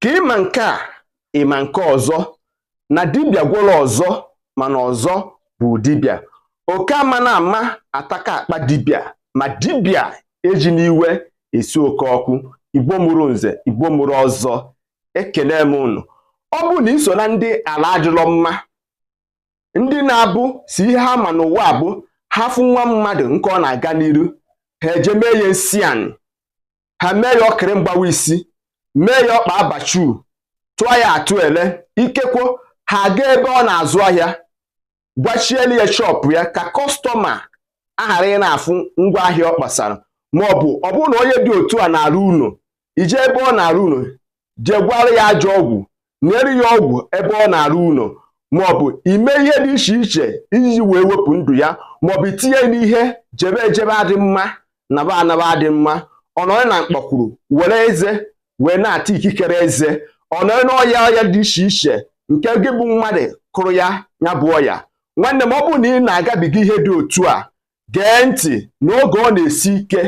ka ịma nke a ịma nke ọzọ na dibịa gwọrọ ọzọ mana ọzọ bụ dibịa oke amana ama ataka akpa dibịa ma dibịa ejina iwe esi oke ọkụ igbo mụrụ nze igbo mụrụ ọzọ ekele m unu ọ bụrụ na iso na ndị ala adịrọ mma ndị na-abụ sọ ihe ha ma n'ụwa bụ ha fụ nwa mmadụ nke ọ na-aga n'iru ha eje mee ya nsi anị ha mee ya ọkịrị mgbawa isi mee ya ọkpa abachu tụọ ya atụ ele ikekwo ha aga ebe ọ na-azụ ahịa gwachielu ya shọpụ ya ka kọstọma aghara ị na-afụ ngwa ahịa ọ kpasara ma ọ bụ ọ bụrụ na onye dị otu a na-arụ ụlọ ije ebe ọ na-arụ ụlọ jee gwọọrọ ya ajọ ọgwụ nyere ya ọgwụ ebe ọ na-arụ ụlọ maọbụ ime ihe dị iche iche iji wee wepụ ndụ ya maọbụ itinye n'ihe jebe ejebe adị mma naba anaba adị mma ọ nọrọ na mkpakwuru were eze wee na-ata ikikere eze ọ nọrọ n'ọya ọya dị iche iche nke gị bụ mmadụ kụrụ ya ya bụ ọya nwanne m ọ bụrụ na ị na-agabiga ihe dị otu a gee ntị na oge ọ na-esi ike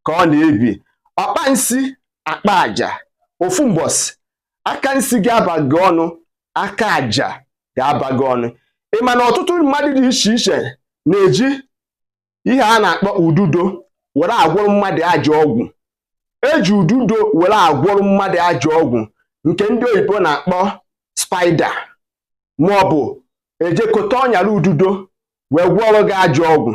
ka ọ na-ebi ọkpa nsi akpa aja ofu mbọsị aka nsi ga-aba gị ọnụ aka aja ga-aba gị ọnụ ị ma na ọtụtụ mmadụ dị iche iche na-eji ihe a na-akpọ ududo were agwọrọ mmadụ ajọ ọgwụ eji ududo were agwọrọ mmadụ ajọ ọgwụ nke ndị oyibo na-akpọ spider ma ọ bụ ejekọta ọnyara ududo wee gwọọrọ gị ajọ ọgwụ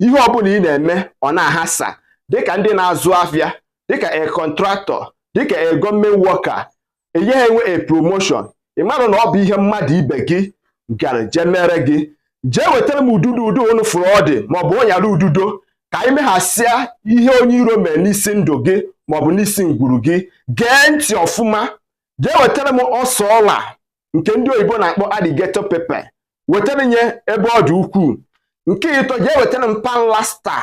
ihe ọbụla ị na-eme ọ na-aghasa dịka ndị na-azụ afịa dịka a contractor dịka a government worker anaghị enwe a promotion ị mara na ọ bụ ihe mmadụ ibe gị gara jee mere gị jee wetara m ududo ụdị unu fụrụ ọ dị maọbụ ọnyara ududo ka anyị meghasịa ihe onye iro mere n'isi ndụ gị maọbụ n'isi ngwuru gị gee ntị ọfụma jee wetara m ose ọla nke ndị oyibo na-akpọ alligator pepper wetara m ya ebe ọ dị ukwuu nke ịtọ jee wetara m panlasta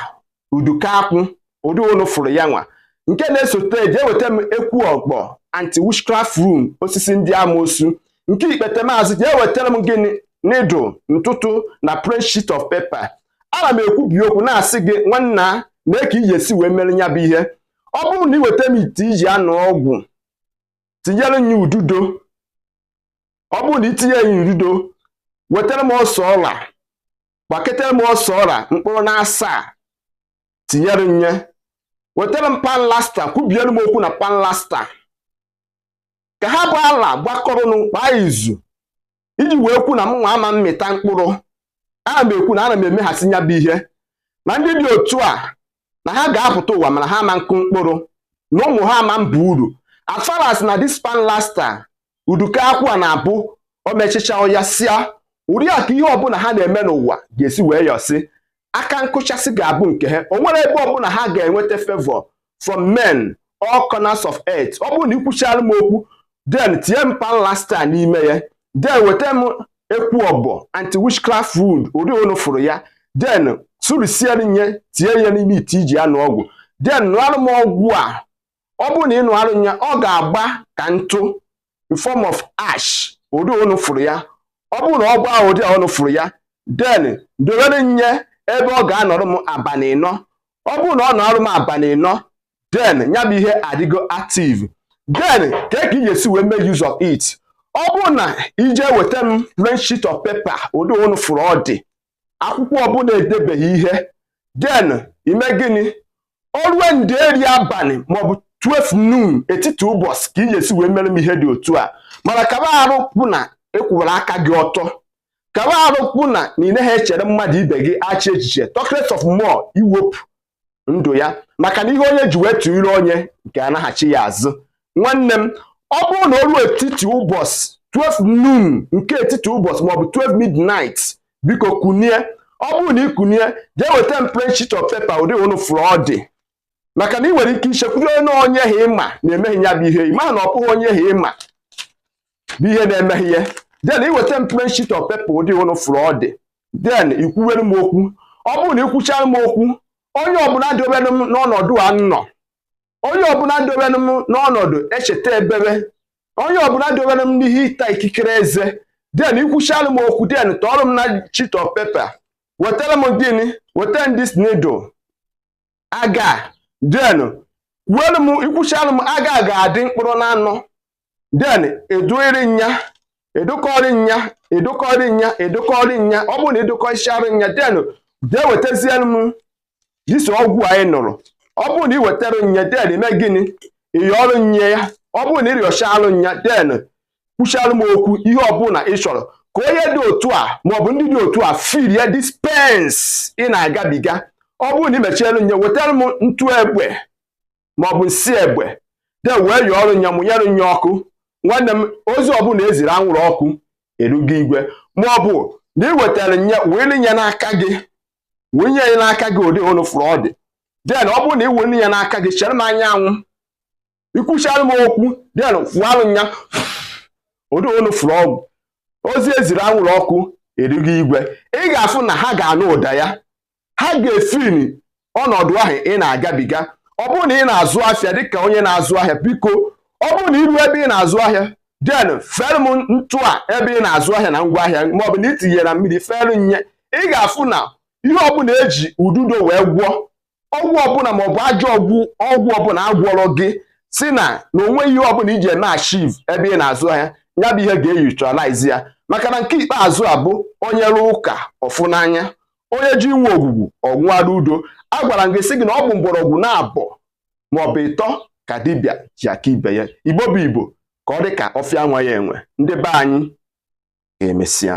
uduka akwụ ụdị unu fụrụ ya nwa nke na-esote jee weta m ekwu ọgbọ anti witchcraft room osisi ndị amoosu nke ikpete m azụ jee wetara m gịnị needle ntụtụ na plain sheet of paper ana m ekwubi okwu na-asị gị nwanna nee ka ị ga-esi wee mere ya bụ ihe ọ bụrụ na ị weta m ite iji aṅụ ọgwụ tinyere m ya ududo ọ bụrụ na itinye ya ududo wetara m ose ọla gbaketara m ose ọla mkpụrụ na asaa tinyere m ya wetara m panlasta kwubiere m okwu na panlasta ka ha bụ ala gbakọrọ ọnụ kpaa izu iji wee kwu na mụ nwa ama mmịta mkpụrụ ana m ekwu na ana m emeghasị ya bụ ihe na ndị dị otu a na ha ga-apụta ụwa mana ha ama nkụ mkpụrụ na ụmụ ha ama mba uru as far as na this pan laster udukọ akwụ a na-abụ o mechịcha ọ yasịa ụdị a ka ihe ọbụla ha na-eme n'ụwa ga-esi wee yọsị aka nkụchasị ga-abụ nke ha o nwere ebe ọbụla ha ga-enweta favour from men all corners of earth ọ bụrụ na i kwuchara m okwu then tinye m panlasta n'ime ya then weta m ekwu ọbọ anti witchcraft wood ụdị unu fụrụ ya then sụrisiere nye tinye ya n'ime ite ị ji anụ ọgwụ then nụarụ m ọgwụ a ọ bụrụ na ị nụarụ ya ọ ga-agba ka ntụ in form of ash ụdị unu fụrụ ya ọ bụrụ na ọ gbaa ụdị a unu fụrụ ya then dowere nye ebe ọ ga-anọrọ m abalị ịnọ ọ bụrụ na ọ nọrọ m abalị ịnọ then ya bụ ihe adịgo active then kee ka ị ga-esi wee make use of it ọ bụrụ na i jee weta m plain sheet of paper ụdị unu fụrụ ọ dị akwụkwọ ọbụla e debeghị ihe then i mee gịnị o rue ndeeri abalị maọbụ 12 noon etiti ụbọchị ka ị ga-esi wee mere m ihe dị otu a mana kaba arụ kwụ na ị kwụwara aka gị ọtọ kaba arụ kwụ na na ị naghị echere mmadụ ibe gị ajọ echiche talkless of more iwepụ ndụ ya maka na ihe onye ji wee tụ ire onye nke anaghachi ya azụ nwanne m ọ bụrụ na o ruo etiti ụbọchị 12 noon nke etiti ụbọchị maọbụ 12 midnight biko kunie ọ bụrụ na ị kunie jee weta m plain sheet of paper ụdị unu fụrụ ọ dị maka na ị nwere ike ichekwudo na onye ha ị ma na-eme gị ya bụ ihe ị ma na ọ bụghị onye ha ị ma bụ ihe na-eme gị ya then i weta m plain sheet of paper ụdị unu fụrụ ọ dị then i kwuwere m okwu ọ bụrụ na i kwuchara m okwu onye ọbụla dobere m n'ọnọdụ a m nọ onye ọbụla dobere m n'ọnọdụ echeta ebebe onye ọbụla dobere m n'ihe ịta ikikere eze then i kwuchara m okwu then tọọrọ m na sheet of paper wetara m gịnị weta m this needle aga then kwuelu m i kwuchialụ m aga ga-adị mkpụrụ na anọ then ị dụịrị nya ị dụkọrị nya ị dụkọrị nya ị dụkọrị nya ọ bụrụ na ị dụkọchara nya then jee wetazielu m this ọgwụ anyị nụrụ ọ bụrụ na ị wetara nya then i mee gịnị ị yọrụ nya ya ọ bụrụ na ị rịọchalụ nya then kwuchara m okwu ihe ọbụla ị chọrọ ka onye dị otu a maọbụ ndị dị otu a feel this pains ị na-agabiga ọ bụrụ na ị mechielu nye wetara m ntụ egbe maọbụ nsi egbe then wee yọọrụ nya mụnyere nya ọkụ nwanne m ozi ọbụla eziri anwụrụ ọkụ erugo igwe maọbụ na ị wetara nye were nye n'aka gị wunye ya n'aka gị ụdị unu fụrụ ọ dị then ọ bụrụ na ị were nye n'aka gị chere m anyanwụ ikwuchara m okwu then kwualụ nya ụdị unu fụrụ ọgwụ ozi eziri anwụrụ ọkụ erigo igwe ị ga-afụ na ha ga-anụ ụda ya ha ga-efeel ọnọdụ ahụ ị na-agabiga ọ bụrụ na ị na-azụ ahịa dịka onye na-azụ ahịa biko ọ bụrụ na iru ebe ị na-azụ ahịa then fere m ntụ a ebe ị na-azụ ahịa na ngwa ahịa maọbụ na itinyere mmiri fere nye ị ga-afụ na ihe ọbụla eji ududo wee gwọọ ọgwụ ọbụla maọbụ ajọ ọgwụ ọgwụ ọbụla agwọrọ gị sị na na onweghị ihe ọbụla iji eme achieve ebe ị na-azụ ahịa ya bụ ihe ga-eneutralize ya maka na nke ikpeazụ a bụ onye rụọ ụka ọ fụ n'anya onye ji inwe ogwugwu ọnwụara udo a gwara m gị sị gị na ọ bụ mgbọrọgwụ naabọ maọbụ ịtọ ka dibịa ji aka ibe ya igbo bụ igbo ka ọ dị ka ọfịa nwa ya enwe ndị be anyị ka emesịa